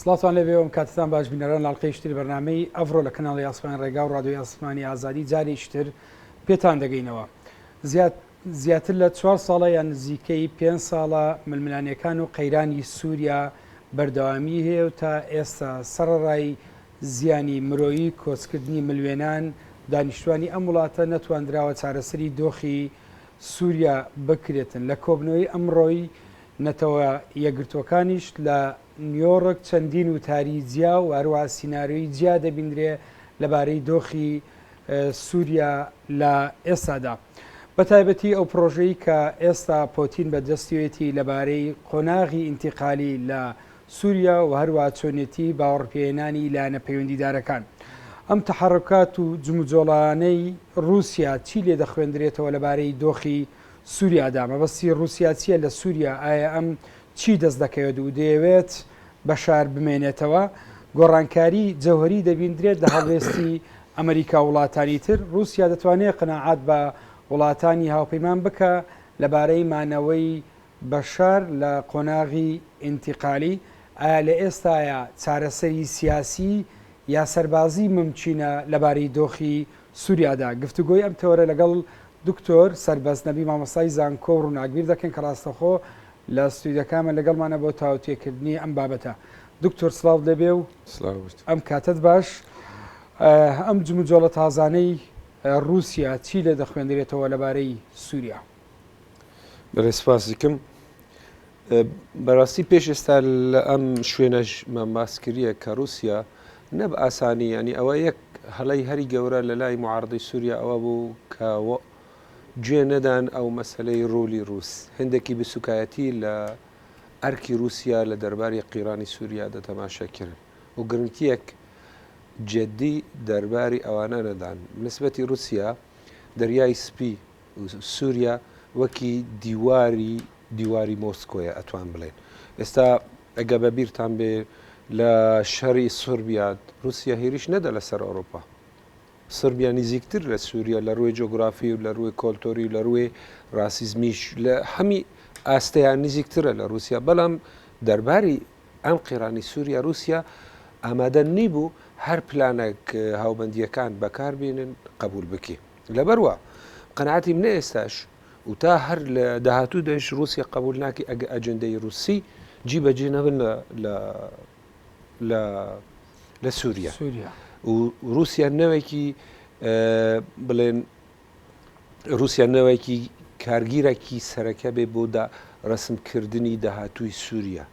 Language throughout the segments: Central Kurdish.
سڵاوتان لێبێ و کاتتان باش بینەران لاڵقەی شتری بەرنمەی ئەڤڕۆ لە کەناڵی ئاسمان ڕێگا و ڕادوی ئاسمانی ئازادی جارێکتر پێتان دەگەینەوە زیاد زیاتر لە چوار ساڵە یان نزیکەی پێ ساڵە ململانەکان و قەیرانی سووریا بەردەوامی هەیە و تا ئێستا سەرڕای زیانی مرۆیی کۆچکردنی ملوێنان دانیشتوانی ئەم وڵاتە نەتواندراوە چارەسەری دۆخی سووریا بکرێتن لە کۆبنەوەی ئەمڕۆی نەتەوە یەکگرتووەکانیش لە نیۆڕک چەندین وتاری جیا و هەروەها سیناریۆی جیا دەبیندرێ لەبارەی دۆخی سووریا لە ئێستادا. بە تایبەتی ئەو پرۆژەی کە ئێستا پۆتین بە دەستیەتی لەبارەی قۆناغی ئینتیقالی لە سووریا و هەروە چۆنێتی باوەڕپێهێنانی لایەنە پەیوەندیدارەکان. ئەم تەحەڕکات و جموجۆڵانەی رووسیا چی لێ دەخوێندرێتەوە لەبارەی دۆخی سوریادا، مەبەستی ڕوسیا چیە لە سوریا، ئایە ئەم چی دەست دەکەوێت و دەیەوێت بەشار بمێنێتەوە، گۆڕانکاری جەوهەری دەبیندرێت لە هەڵوێستی ئەمەریکاو وڵاتانی تر، ڕوسیا دەتوانێت قەناعەت بە وڵاتانی هاوپەیمان بکا لەبارەی مانەوەی بەشار لە قۆناغی ئینتیقالی، ئایە لە ئێستایا چارەسەری سیاسی یا سەربازی مومکینە لەبارەی دۆخی سوریادا، گفتوگۆی ئەم تەوەرە لەگەڵ دکتۆر سەربەست نەبی مامۆستای زانکۆ و ڕوناکبیر دەکەین کە ڕاستەخۆ لە ستویدەکانمان لەگەڵمانە بۆ تاوتوێکردنی ئەم بابەتە. دکتۆر سڵاوت لێبێ و ئەم کاتەت باش. ئەم جموجۆڵە تازانەی ڕوسیا چی لێ دەخوێندرێتەوە لەبارەی سوریا؟ بەێ سپاسیکم بەڕاستی پێش ئێستا لە ئەم شوێنەش مەماس کردە کە رووسیا نەب ئاسانی ینی ئەوە یەک هەڵی هەری گەورە لە لای معاردی سووریا ئەوە بوو کە گوێ نەدان ئەو مەسلەی ڕولی رووس هەندێکی بسوکایەتی لە ئەرکی رووسیا لە دەرباری قیرانی سووریا دەتەماشاکردن و گرنگتیەک جددی دەرباری ئەوانە نەدان نسبەتی رووسیا دەریای سپی سوریا وەکی دیواری دیواری مۆسکۆیە ئەتوان بڵێن ئێستا ئەگە بە بیرتان بێ لە شەری سربیاد رووسیا هێریش نەدە لەسەر ئەوروپا سربیا نزیکتر لە سووریا لە ڕووی جۆگرافی و لە ڕووی کۆلتۆری لە ڕووی ڕاسیزمیش لە هەمی ئاستەیان نزیکترە لە رووسیا بەڵام دەرباری ئەم قێرانی سووریا رووسیا ئامادە نیبوو هەر پلانێک هاوبندیەکان بەکاربیێنن قبول بکە لەبەر وا قەناتی منە ئێستاش و تا هەر لە داهاتوو دەش رووسیا قبول ناکی ئەگە ئەجندەی رووسی جی بەجێ نەبن لە لە لە سووریا سووریا و رووسیا نەوێکی بڵێن رووسیا نەوێکی کارگیرەکی سەرەکە بێ بۆدا ڕسمکردنی داهاتووی سووریا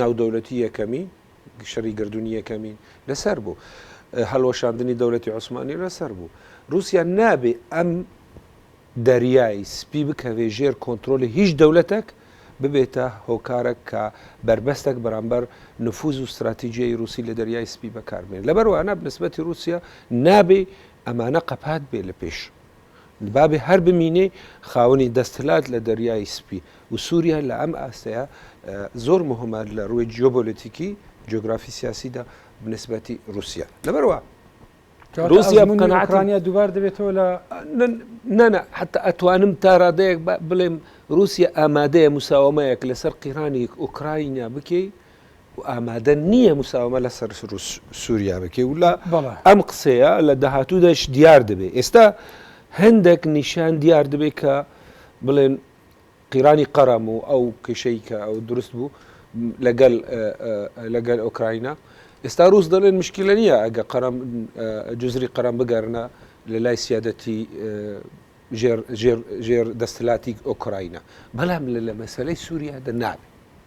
ناودەولەتی یەکەمین شەری گردونی یەکەمین لەسەر بوو هەلوەشاندنی دەولەتی عوسمانی لەسەر بوو رووسیا نابێ ئەم دەریایی سپی بکەوێ ژێر کۆنتترۆلی هیچ دەولەتێک ببێتە هۆکارە کە بربەستێک بەرامبەر نفوز و استراتیجیی رووسی لە دەریای سپی بەکاربێن لەبەروانە بنسبەتی رووسیا نابێ ئەمانە قەپات بێ لە پێش بابێ هەر بمینێی خاوەنی دەستەلات لە دەریای سپی و سوریا لە ئەم ئاستەیە زۆر مهمە لە ڕووی جیۆبۆلەتیکی جۆگرافی سیاسیدا بنسبەتی رووسیا لەبەروا رووسیا بکەناترانیا دووبار دەبێتەوە لە نەنا حتا ئەتوانم تاڕادەیەک بڵێم رووسیا ئامادەیە مساوەمەیەک لەسەر قیرانی ئۆکراینیا بکەی و ئامادە نییە مساوەمە لەسەر سووریا بکەی و لە ئەم قسەیە لە داهاتووداش دیار دەبێت ئێستا هەندێک نیشان دیار دەبێت کە بڵێن قیرانی قەرەم و ئەو کێشەی کە ئەو دروست بوو لەگەل لەگەل ئۆکراینا ئێستا رووس دەڵێن مشکلە نییە ئەگە قەرم جزری قەرم بگەرنە لە لای سیادەتی ژێر دەستلاتی ئۆکراینا بەڵام لە لە مەسلەی سووریا دە نابێت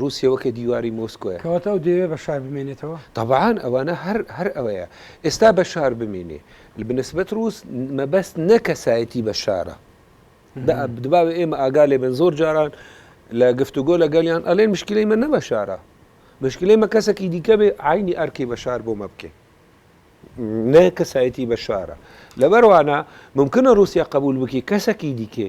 روسیە وەکە دیواری مۆسکۆیە. کەواتە ئەو دەیەوێ بەشار بمێنێتەوە؟ تەبعان ئەوانە هەر هەر ئەوەیە ئێستا بەشار بمینێ بنسبەت روس مەبەست نە کەسایەتی بەشارە دە دباوە ئێمە ئاگا لێ بن زۆر جاران لە گفتوگۆ لە گەلیان ئەلێن مشکلەی مە نە بەشارە مشکلەی مە کەسەکی دیکە بێ عینی ئەرکی بەشار بۆ مە بکەین نە کەسایەتی بەشارە لەبەروانە ممکنە روسیا قبول بکی کەسەکی دیکێ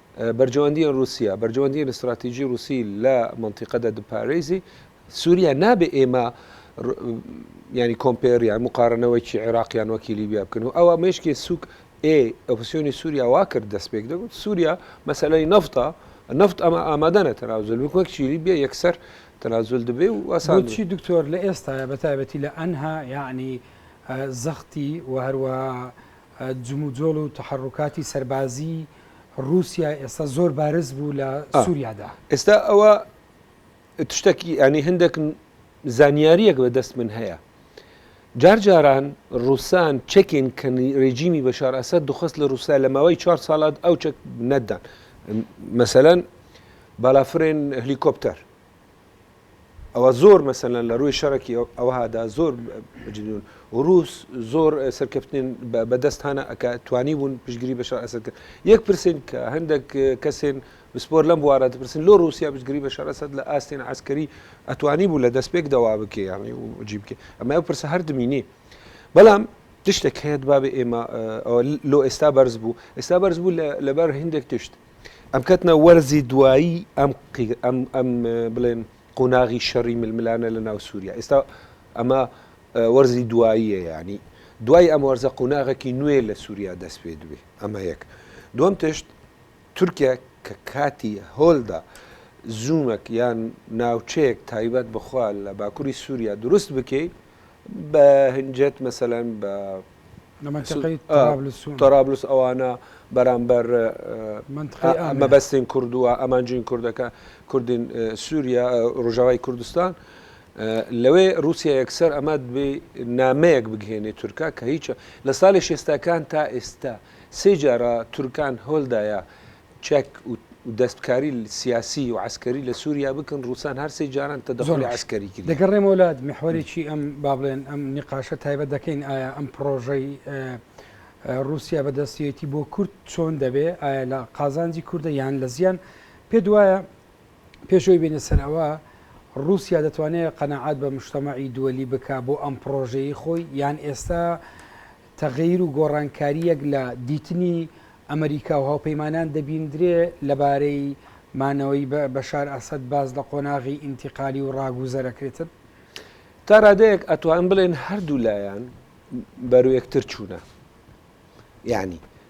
بەرژەوەندییە ڕووسییە، بەرژەوەندییە ستڕاتیژی ڕووسی لە مەنتیقەدا دپارێزی. سووریا نابێ ئێمە یانی کۆمپێر یان مقارنەوەیکی عێراق یان وەکی لیبیا بکەن و ئەوە مێشکی سوک ئێ ئۆپسیۆنی سووریا وا کرد دەست پێک دەگوت سووریا مەسەلەی نەفتا نەفت ئەمە ئامادەە تەناوزل وەک چیلی بێ یەکسەر تەنازل دەبێ و ئاسانچی دکتۆر لە ئێستاە بە تایبەتی لە ئەنها یعنی زەختی و هەروە جموجۆڵ و تەحەڕوکاتی سەربازی ڕووسیا ئێستا زۆر بارز بوو لە سووریادا. ئێستا ئەوە تشتەکی یانی هەندێک زانیارییەک بە دەست من هەیە. جار جاران ڕووسان چەکێن کە ڕێجیمی بەشار ئەسەد دخست لە ڕووسیا لە ماوەی چوار ساڵات ئەو چەک نەتدان. مەسەلەن بالافرێن هلیکۆپتەر. ئەوە زۆر مەسەلەن لە ڕووی شەڕکی ئەوهادا زۆر بجدون وروس زۆر سەرکەفتنین بەدەست هانا ئەک توانی بوون پشگیری بە شار ئەسەر کرد یەک پرسین کە هەندێک کەسێن بسپۆر لەم بوارە دەپرسن لۆ رووسیا بشگری بە شارەسەد لە ئاستێن عسکەری ئەتوانی بوو لە دەست پێک دەوا بکێ یاڕنی و جی بکێ ئەمە ئەو پرسە هەر دمینی بەڵام تشتێک هەیە بابێ ئێمە لۆ ئێستا بەرز بوو ئێستا بەرز بوو لەبەر هندێک تشت ئەم کەتنە وەرزی دوایی ئەم ئەم بڵێن قۆناغی شەڕی ململانە لە ناو سووریا ئێستا ئەمە وەرزی دواییە ینی دوای ئەم وەرزە قۆناغێکی نوێ لە سووریا دەست پێ دوێ ئەمە یەک دوم تشت تورکیا کە کاتی هۆلدا زوومەک یان ناوچەیەک تایبەت بخوا لە باکووری سووریا دروست بکەیت بە هەنجێت مەسەلەن بە تەرابلس ئەوانە بەرامبەر مەبەستین کوردووە ئەمانجین کوردەکە کوردین سووریا ڕژاوای کوردستان لەوێ رووسیا یەکسەر ئەمە دبێ نامەیەک بگهێنێ تورکا کە هیچە لە ساڵی شێستەکان تا ئێستا سێ جارە تورکان هۆلدایە چەک و دەستکاری سیاسی و عەسکەری لە سوریا بکەن، ڕووسان هەر سێ جاران تەدەخولی عەسکەری کردیە. دەگەڕێم وەلات، میحوەرێکی ئەم با بڵێن ئەم نیقاشە تایبەت دەکەین، ئایا ئەم پڕۆژەی ڕووسیا بە دەستیەتی بۆ کورد چۆن دەبێ، ئایا لە قازانجی کوردە یان لە زیان، پێت وایە پێش ئەوەی بێینە سەر ئەوە ڕووسیا دەتوانێ قەناعەت بە مشتەمەعی دووەلی بکا بۆ ئەم پڕۆژەیەی خۆی یان ئێستا تەغەیر و گۆڕانکارییەک لە دیتنی ئەمریکا و هاوپەیمانان دەبیندرێ لەبارەی مانەوەی بەشار ئەسەد باس لە قۆناغی ئینتیقالی و ڕاگوزەرە کرێتن؟ تا ڕادەیەک ئەتوانن بڵێن هەردوو لایان بەرەو یەکتر چوونە. یانی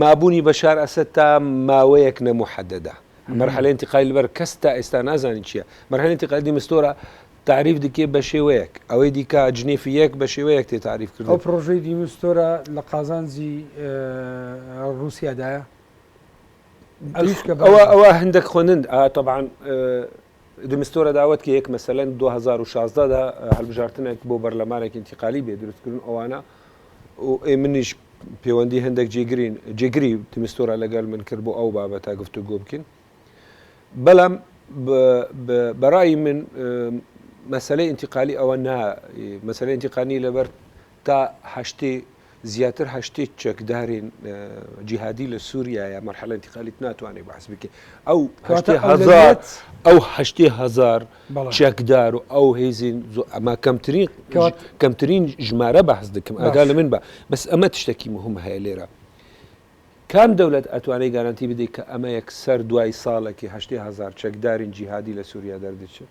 مابوونی بەشار ئەسەد تا ماوەیەک نەموحەدەدە مەرحەلەی انتقالی لەبەر کەس تا ئێستا نازانی چییە مەرحەلەی انتقالی مستۆرە تعریف دکێ بە شێوەیەک ئەوەی دیکە جنێفی یەک بە شێوەیەک تێ تعریف کرد ئەو پرۆژەی دیمستۆرە لە قازانجی رووسیادایە ئەوە ئەوە هەندێک خوێنند طبعاان دی مستۆرە داوەت کە یەک مەسەلەن 2016 دا هەلبژارتنێک بۆ بەرلەمانێک ئینتیقالی بێ دروست کردن ئەوانە و ئەی منیش پەیوەندی هەندێک جێگرین جێگری تیمستۆرا لەگەل من کرد بۆ ئەو بابە تا گفتو گۆ بکەین بەڵام بەڕایی من مەسلەی ئینتیقالی ئەوە نا مەسلەی ئینتیقانی لەبەر تا هەشتی زیاتر هەشتیت چەکدارین جیهادی لە سووریایە مەرحەلە انتقالیت ناتوانێت بەعس بکە ئەو هەشتی هەزار ئەو هەشتی هەزار چەکدار و ئەو هێزین ئەمە کەمترین کەمترین ژمارە بەحز دەکەم ئەگا لە من بە بەس ئەمە تشتێکی مهم هەیە لێرە کام دەولەت ئەتوانەی گارانتی بدەیت کە ئەمە یەک سەر دوای ساڵێکی هەشتی هەزار چەکدارین جیهادی لە سووریا دەردەچێت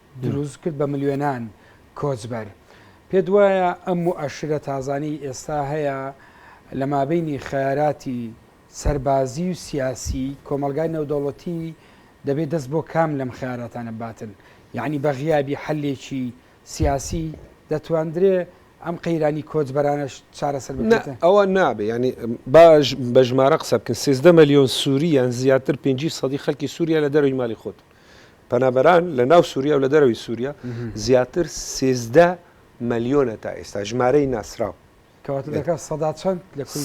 دروست کرد بە ملیۆنان کۆچبەر. پێت وایە ئەم موئەشرە تازانەی ئێستا هەیە لە مابەینی خەیاراتی سەربازی و سیاسی کۆمەڵگای نێودەوڵەتی دەبێ دەست بۆ کام لەم خەیاراتانە بباتن؟ یەعنی بە غیابی حەلێکی سیاسی دەتواندرێ ئەم قەیرانی کۆچبەرانەش چارەسەر بکرێت؟ نە ئەوە نابێ یەعنی با بە ژمارە قسە بکەین سێزدە ملیۆن سوری یان زیاتر پێنجی سەدی خەلکی سوریا لە دەرەوی مالی خۆتن پەنابەران لە ناو سووریا و لە دەرەوەی سووریا زیاتر سێزدە ملیۆنە تا ئێستا ژمارەی ناسراو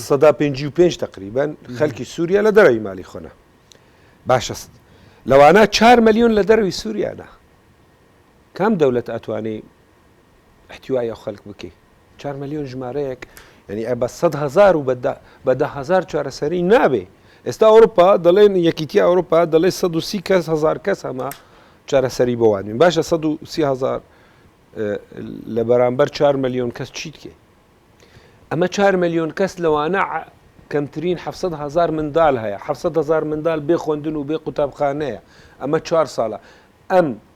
سەدا پێ و پێنج تقریبان خەلکی سووریا لە دەرەوی مالی خۆنا باشست لەوانە چهار ملیۆن لە دەرەوی سووریاە کام دەولەت ئەتوانێ احتوای ئەو خەلک بکەی چار ملیۆن ژمارەیەک یعنی ئە بە سەد هەزار و بە دە هەزار چارەسەری نابێ ئێستا ئەوروپا دەڵێن یەکیتی ئەوروپا دەڵێ 130 کەس هزار کەس هەمە چارەسەری بۆوانین باشە 130 هزار لە بەرامبەر 4 ملیۆن کەس چیت کێ ئەمە 4 ملیۆن کەس لەوانە کەمترین 700 هزار مندال هەیە 700 هزار مندال بێ خوندن و بێ قوتابخانەیە ئەمە چوار ساڵە ئەم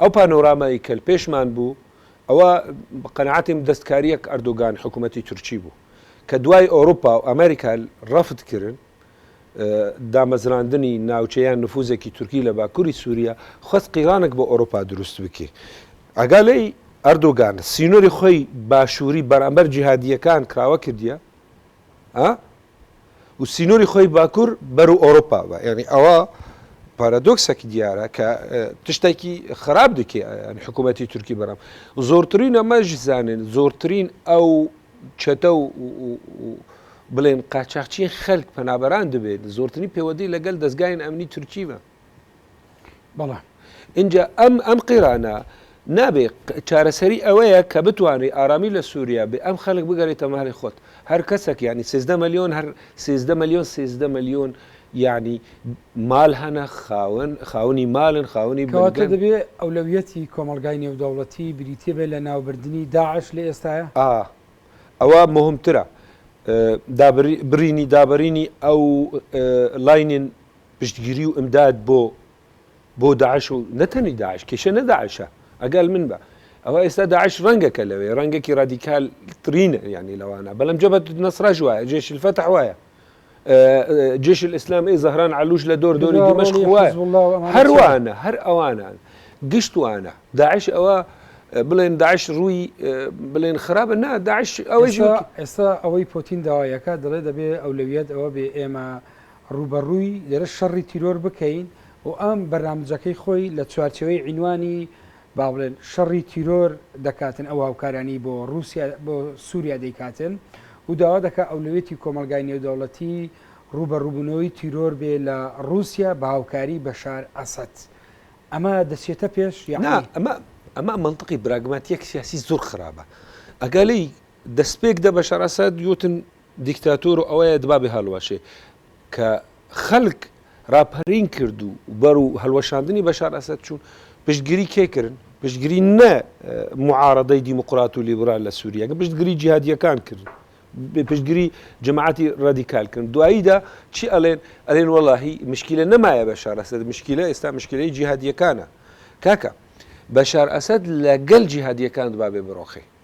ئەو پانۆرامای کە پێشمان بوو ئەوە بە قەناعەتیم دەستکاریەک ئەردوگان حکومەتی تورکی بوو کە دوای ئەوروپا و ئەمریکا رەفت کرن دامەزراندنی ناوچە یان نفوزێکی تورکی لە باکوری سوریا خواست قیرانک بۆ ئەوروپا دروست بکی ئەگا لەی ئەردوگان سینۆری خۆی باشوری بەرامبەر جیهادیەکان کراوە کردیە ئە و سینوری خۆی باکور بەرو ئۆروپا بە یعنی ئەوە پارادۆکسەکی دیارە کە تشتێکی خراپ دکێ حکوومەتی تورکی بەرام زۆرترین ئەمەش زانن زۆرترین ئەو چەتە و بڵێن قاچاقچی خەک پەنابەران دەبێت زۆرترین پێوەدی لەگەل دەستگاین ئەمنی تورکیمە بەڵام ئینجا ئەم ئەم قیرانە نابێ چارەسەری ئەوەیە کە بتوانری ئارامی لە سووریا بێ ئەم خەلک بگەریتە مالی خۆت هەر کەسێک ینی سزدە ملیۆن هەر سزدە ملیۆن سزدە ملیۆن یعنی مال هەنە خاون خاونی مالن خاونی کەواتە دەبێ ئەولەویەتی کۆمەلگای نێودەوڵەتی بریتە بێ لە ناوبردنی داعش لە ئێستاە ئا ئەوە مهمترە دابرینی دابرینی ئەو لاینین پشتگیری و ئمداد بۆ بۆ داعش و نەتەنی داعش کێشە نە داعشە ئەگەل من بە ئەوە ئێستا داعش ڕەنگەکە لەوێ ڕەنگێکی ڕادیکال ترینە یعنی لەوانە بەڵم جەبەت نەسراژ وایە جێش الفتح وایە جێش الاسلام ئی زەهران علوش لە دۆر دۆری دمشق وایە هەروانە هەر ئەوانان گشتوانە داعش ئەوە بڵێن داعش ڕووی بڵێن خراپە نا داعش ئەوەی ئێستا ئەوەی پۆتین داوایەکە دەڵێ دەبێ ئەولەویەت ئەوە بێ ئێمە ڕووبەڕووی لێرە شەڕی تیرۆر بکەین و ئەم بەرنامجەکەی خۆی لە چوارچێوەی عینوانی با بڵێن شەڕی تیرۆر دەکاتن ئەو هاوکارانی بۆ ڕووسیا بۆ سووریا دەیکاتن و داوا دەکا ئەولەوێتی کۆمەڵگای نێودەوڵەتی ڕووبەڕووبوونەوەی تیرۆر بێ لە ڕووسیا بە هاوکاری بەشار ئەسەد ئەمە دەچێتە پێش یانی؟ نا ئەمە ئەمە مەنتقی براگماتیەک سیاسی زۆر خراپە ئەگەر لێی دەستپێک دە بەشار ئەسەد یوتن دیکتاتۆر و ئەوەیە دبابێ هەڵوەشێ کە خەلک راپەرین کرد و بەرو هەلوەشاندنی بەشار ئەسەد چوون پشتگری کێ کرن؟ پشتگری نە معارەدەی دیموقرات و لیبرال لە سوریا کە پشتگری جیهادیەکان کرن پشتگری جەماعەتی رادیکال کرن دواییدا چی ئەلێن ئەلێن وەلاهی مشکیلە نەمایە بەشار ئەسەد مشکیلە ئێستا مشکیلەی جیهادیەکانە کاکە بەشار ئەسەد لەگەل جیهادیەکان دبابێ بڕۆخێ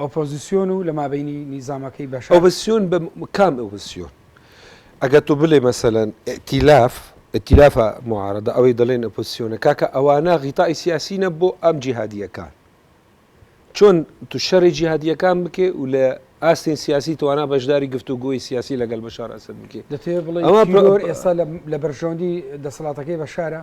ئۆپۆزیسیۆن و لە مابەینی نیزامەکەی بەشار. ئۆپۆزیسیۆن بە کام ئۆپۆزیسیۆن؟ ئەگەر تۆ بلێ مەسەلەن ئیتیلاف، ئیتیلافە موعارەدە ئەوەی دەڵێن ئۆپۆزیسیۆنە کاکە ئەوانە غیتائی سیاسینە بۆ ئەم جیهادییەکان. چۆن تو شەڕی جیهادییەکان بکێ و لە ئاستین سیاسی توانا بەشداری گفتوگۆی سیاسی لەگەڵ بەشار ئەسەد بکێ. دەتەوێ بڵێی تیرۆر ئێستا لە بەرژەوەندی دەسەڵاتەکەی بەشارە؟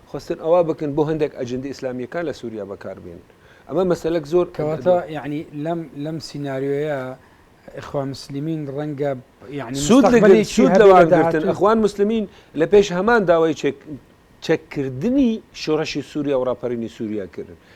خواستن ئەوا بکەن بۆ هەندێک ئەجندە ئیسلامیەکان لە سوریا بەکار بێنن ئەمە مەسەلەک زۆر کەواتە یعنی لەم لەم سیناریۆیە اخوان مسلمین ڕەنگە یعنی سود لەگەرتن اخوان مسلمین لە پێش هەمان داوای چێک چەککردنی شۆڕەشی سووریا و ڕاپەرینی سووریا کردن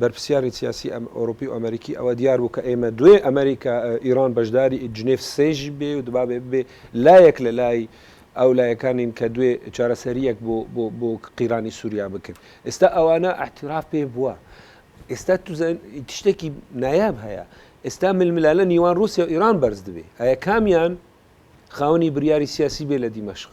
بەرپرسیارن سیاسی ئەوروپی و ئەمەریکی ئەوە دیار بوو کە ئێمە دوێ ئەمەریکا ئیران بەشداری جنێف سێش بێ و دبابێ ببێ لایەک لە لای ئەو لایەکانین کە دوێ چارەسەریەک بۆ بۆ بۆ قیرانی سوریا بکن ئێستا ئەوانە ئەحتراف پێ بووە ئێستا تو تشتێکی نایاب هەیە ئێستا ململالە نیوان رووسیا و ئیران بەرز دبێ ئایا کامیان خاونی بریاری سیاسی بێ لە دیمەشق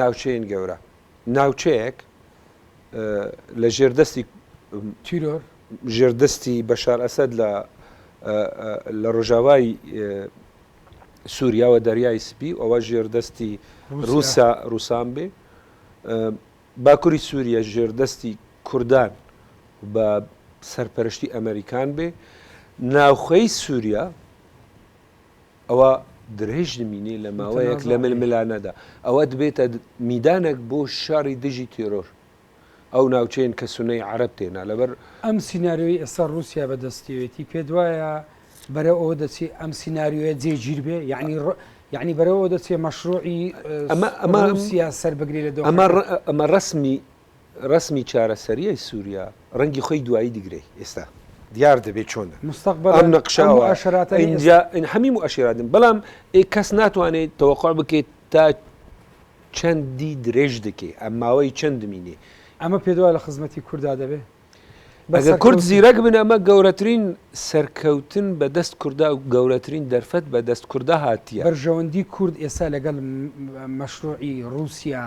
ناوچەین گەورە ناوچەیەک لە ژێر دەستی تیرۆر ژێر دەستی بەشار ئەسد لە لە ڕۆژاوای سووریاوە دەریای سپی و ئەوە ژێر دەستی رووسا رووسان بێ باکووری سووریە ژێر دەستی کوردان بە سەرپەرشتی ئەمریکان بێ ناوخەی سووریا ئەوا درێژ نمینێ لە ماوەیەک لە ململانەدا ئەوە دبێتە میدانێک بۆ شەڕی دژی تێرۆر ئەو ناوچەیەن کە سونەی عەرەب تێنا لەبەر ئەم سیناریۆی ئێستا ڕووسیا بەدەستیەتی پێدوایە بەرە ئەوە دەچی ئەم سینناریۆە جێگیر بێ یعنی یعنی بەرەوە دەچێ مەشروعی ئەمە ئەمە سیاس سەر بگری لە دەو ئەمە ڕسمی رەسمی چارەسەریی سوریا رەنگی خۆی دوایی دگرەی ئێستا دیار دەبێ چۆنە مستقبلا ئەم نەقشە ئەم موئەشراتە ئینجا هەمی موئەشراتن بەڵام ئێ کەس ناتوانێ تەوەقوع بکێ تا چەندی درێژ دکێ ئەم ماوەی چەند دمینێ ئەمە پێ دوای لە خزمەتی کوردا دەبێ بەسە کورد زیرەک بن ئەمە گەورەترین سەرکەوتن بە دەست کوردا و گەورەترین دەرفەت بە دەست کوردا هاتیە بەرژەوەندی کورد ئێستا لەگەڵ مەشروعی رووسیا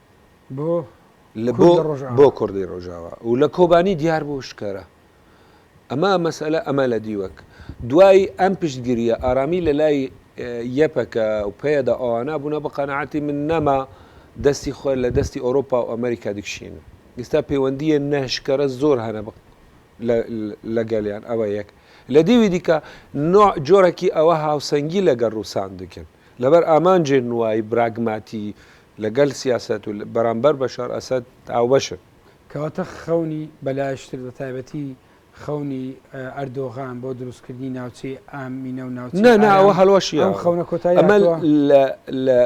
بۆ بۆ کوردی ڕۆژاوا و لە کۆبانی دیار بوو شکەرە ئەمە مەسەلە ئەمە لە دیوەک دوای ئەم پشتگیریە ئارامی لە لای یەپەکە و پێدا ئەوانە بوونە بە قەنەعاتی من نەما دەستی خۆر لە دەستی ئۆرۆپا و ئەمریکا دیکشین ئستا پەیوەندیە نەشکەرە زۆر هەنە بە لەگەلیان ئەوە یەک لە دیوی دیکە نوع جۆرەکی ئەوە هاوسەنگی لەگەڵ ڕووسان دکن لەبەر ئامانجێ نوایی براگماتی لەگەل سیاسەت و بەرامبەر بەشار ئەسەد هاوبەشن. کەواتە خەونی بەلایشتر بەتایبەتی خەونی ئەردۆغان بۆ دروستکردنی ناوچەی ئامینە و ناوچەی ئارام. نا نا ئەوە هەڵوەشیە. ئەم خەونە کۆتایی هاتووە. ئەمە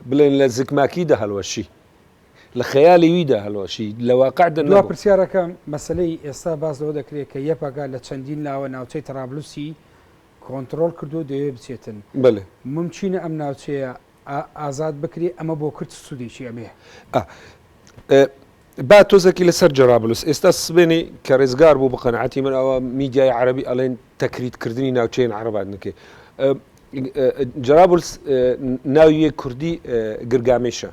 بڵێن لە زکماکیدا هەڵوەشی. لە خەیالی ویدا هەڵوەشی. لە واقعدا نەبوو. دوا پرسیارەکەم، مەسەلەی ئێستا باس لەوە دەکرێت کە یەپەگە لە چەندین لاوە ناوچەی تەرابلوسی کۆنتڕۆڵ کردووە و دەیەوێت بچێتن. بەلێ. مومکینە ئەم ناوچەیە ئا ئازاد بکرێ ئەمە بۆ کورد چ سوودێکی ئەبێ؟ ئا ئێ با تۆزەکی لە سەر جەرابلوس ئێستا سبێنێ کە رێزگار بوو بە قەناعەتی من ئەوە میدیای عەرەبی ئەڵێن تەکریت کردنی ناوچەێن عەرەبات نکێ ئە ئە جەرابلس ئێ ناوی یێ کوردی ئێ گرگامێشە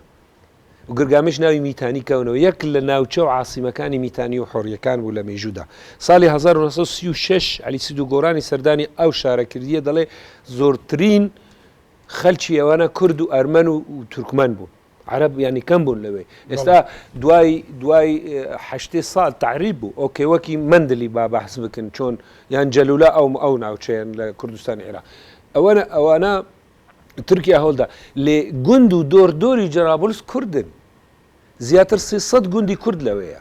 و گرگامێش ناوی میتانی کەونەوە یەک لە ناوچە و عاسیمەکانی میتانی و حۆریەکان بوو لە مێژوودا ساڵی هەزار و نۆ سەد و سی و شەش عەلی سیدو گۆرانی سەردانی ئەو شارە کردیە دەڵێ زۆرترین خەلکی ئەوانە کورد و ئەرمەن و تورکمەن بوون عەرەب یانی کەم بوون لەوێ ئێستا دوای دوای هەشتێ سال تعریب بوو ئۆکێ وەکی مندلی با بەحس بکن چۆن یان جەلولا ئەو ئەو ناوچەیەن لە کوردستان عێراق ئەوەنە ئەوانە تورکیا هەوڵدا لێ گوند و دۆر دۆری جەرابلس کوردن زیاتر سێسەد گوندی کورد لەوەیە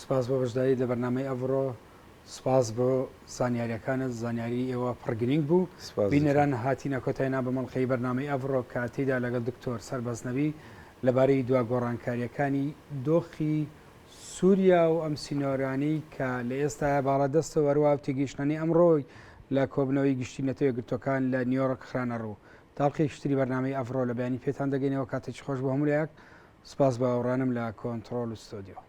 سپاس بۆ بەشداریت لە بەرنامەی ئەڤڕۆ. سپاس بۆ زانیاریەکانت زانیاری ئێوە پڕ گرینگ بوو بینەران هاتینە کۆتای نا بە مەڵقەی بەرنامەی ئەڤڕۆ کە تیدا لەگەڵ دکتۆر سەربەست نەبی لەبارەی دوا گۆڕانکاریەکانی دۆخی سوریا و ئەم سینۆرانی کە لە ئێستا باڵا دەستە وەروا و تێگەیشتنانی ئەمڕۆی لە کۆبنەوەی گشتی نەتەوە گرتوەکان لە نیۆرک خرانە ڕوو تاڵقی شتری بەرنامەی ئەڤڕۆ لە بیانی پێتان دەگەینەوە کاتێکی خۆش بۆ هەمولایەک سپاس بە ئەوڕانم لە کۆنتترۆل و ستۆدیۆ.